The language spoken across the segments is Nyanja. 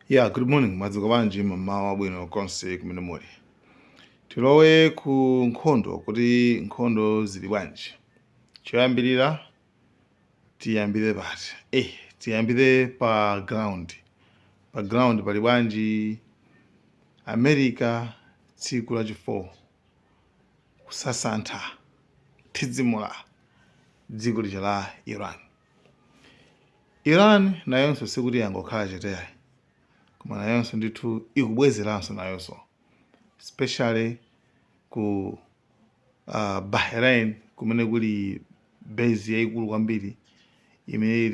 Yeah, good morning. Mwadzuka bwanji mmawa abwino konse kumene muli. Tilowe ku nkhondo kuti nkhondo zili bwanji. Choyambirira tiyambire pati? Eh, tiyambire pa ground. Pa ground pali bwanji America tsiku la chifour kusasantha kuthidzimula dziko lija la Iran. Iran nayonso sikuti yangokhala chete ayi koma nayonso ndithu ikubwezeranso nayonso especially ku uh, Bahrain kumene kuli base yaikulu kwambiri imene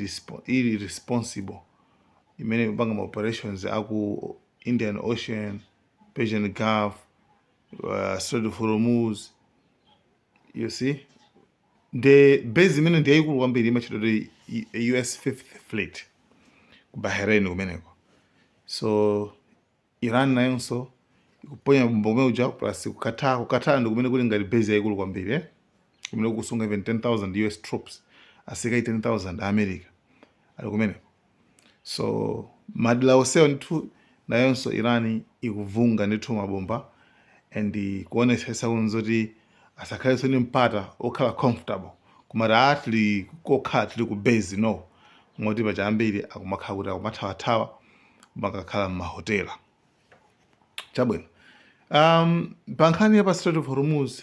ili responsible imene ikupanga ma operations aku Indian Ocean, Persian Gulf, uh, Strait of Hormuz you see nde base imene ndi yayikulu kwambiri imatchedwa kuti US fifth fleet ku Bahrain kumeneko so Iran nayonso ikuponya mabomba kumene kuja plus ku Qatar ku Qatar ndi kumene kuli ngati base yayikulu kwambiri eh? kumene kukusunga even 10000 US troops asilikali 10000 a America ali kumeneko so madera onsewo ndithu nayonso iran ikuvunga ndithu mabomba and kuonetsetsa kunena kuti asakhalenso ndi mpata okhala comfortable kumati a tili kokhala tili ku base no moti paja ambiri akumakhala kuti akumathawathawa kumakakhala m'mahotela chabwino um, pa nkhani ya pa strait of hormuz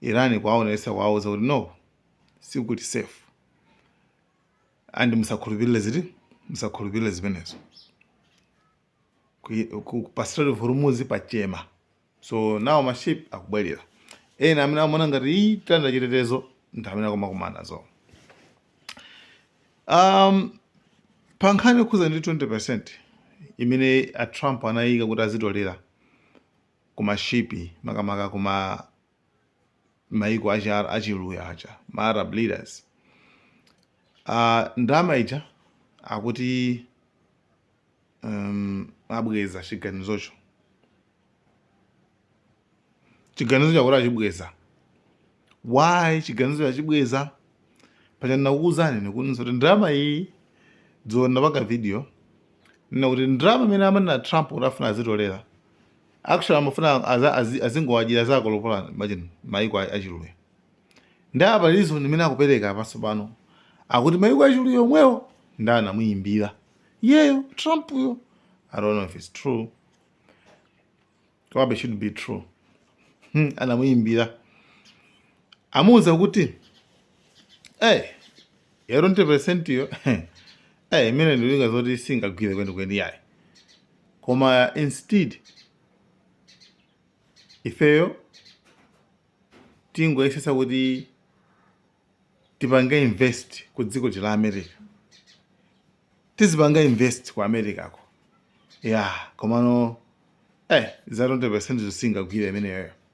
Iran kuwaonetsa kuwauza kuti no sikuti safe and musakhulupirire ziti musakhulupirire zimenezo Ku- ku- pa Strait of Hormuz patchema so now maship akubwerera ena amene amaona ngati ayi tili ndi chitetezo ndi amene akumakumana nazo um, pa nkhani yokhuza ndi 20% imene a Trump anayika kuti azitolera kuma ship makamaka kuma maiko achi achiluya aja ma arab leaders uh, ndalama ija akuti um, abweza chiganizocho chiganizocho akuti achibweza why chiganizocho achibweza paja ndinakuuzani ndikunenanso kuti ndalama iyi dzulo ndapanga video ndinena kuti ndalama imene amanena trump kuti afuna azitolera actually amafuna aza- azi- azingowadyera zako lopola imagine maiko a- achiluya ndiye apa reason imene akupereka apanso pano akuti maiko achiluya omwewo ndi anamuyimbira yeyo trump yo i don't know if it's true komabe should be true Hmm, anamuyimbira amuwuza kuti hey, ya 20 percent yo hey, imene ndi njinga zoti singagwire kwenikweni yayi koma instead ifeyo tingoyesetsa kuti tipange invest ku dziko la america tizipanga invest ku america ko ya komano eh za 20 percent zo singagwire imeneyoyo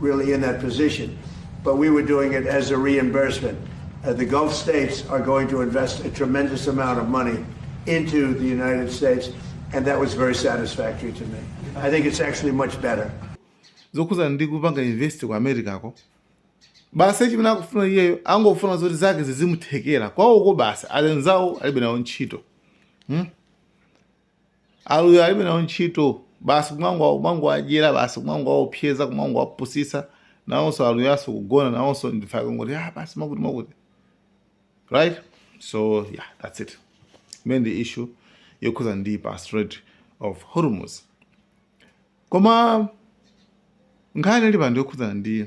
really in that position, but we were doing it as a reimbursement. Uh, the Gulf states are going to invest a tremendous amount of money into the United States, and that was very satisfactory to me. I think it's actually much better. zokhudzana ndi kupanga invest ku americako basi chimene akufuna iyeyo angofuna zoti zake zizimuthekera kwawoko basi anzawo alibe nawo ntchito hmm? Aluya alibe nawo ntchito basi kumangwa kumangowadyera basi kumangowaopseza kumangowapusisa nawonso aluyanso kugona nawonso ndiye akangoti ah basi makuti makuti right so yeah that's it imene ndi issue yokhuza ndi pa strait of hormuz koma nkhani ili pano yokhudzana ndi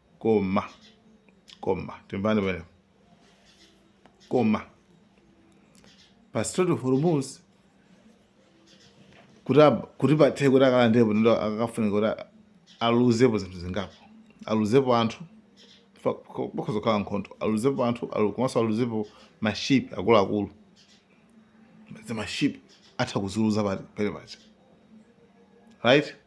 koma koma timvane penepo koma pa strait of hormuz kuti ab- kuti pathe kuti akalandepo ndo akafunika kuti a- aluzepo zinthu zingapo aluzepo anthu fa- ko- pakhoza kukhala nkhondo aluzepo anthu alu- komanso aluzepo maship akuluakulu mazimaship atha kuziluza pamene paja right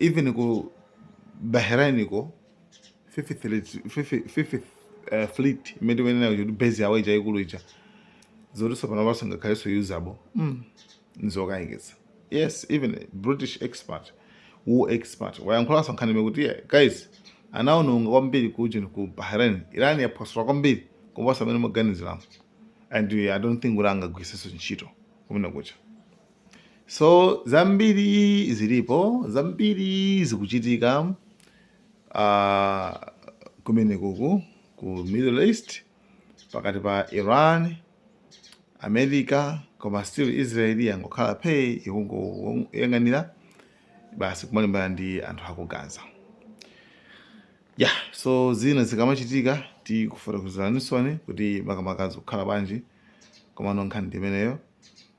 even ku bahrain ko fifth fleet- fifth- fifth, eh, fleet imene timenena kuti base yawo ija yaikulu ija zoti tsopano panopa singakhalenso usable mm. nzokayikitsa yes even a british expert war expert wayankhulanso nkhani imene kuti "Yeah, guys anaononga kwambiri kujeni ku bahrain iran yaphwasula kwambiri kuposa mmene mukuganiziramo and i don't think kuti angaigwiritsenso ntchito kumene kuja So zambiri zilipo, zambiri zikuchitika uh, kumenekuku ku Middle East pakati pa Iran, America koma still Israel yangokhala phee ikungoyang'anira basi kumalimbana ndi anthu aku Gaza ya yeah, so zina zikamachitika tikufotokozeranisoni kuti makamaka zikukhala bwanji komano nkhani ndimeneyo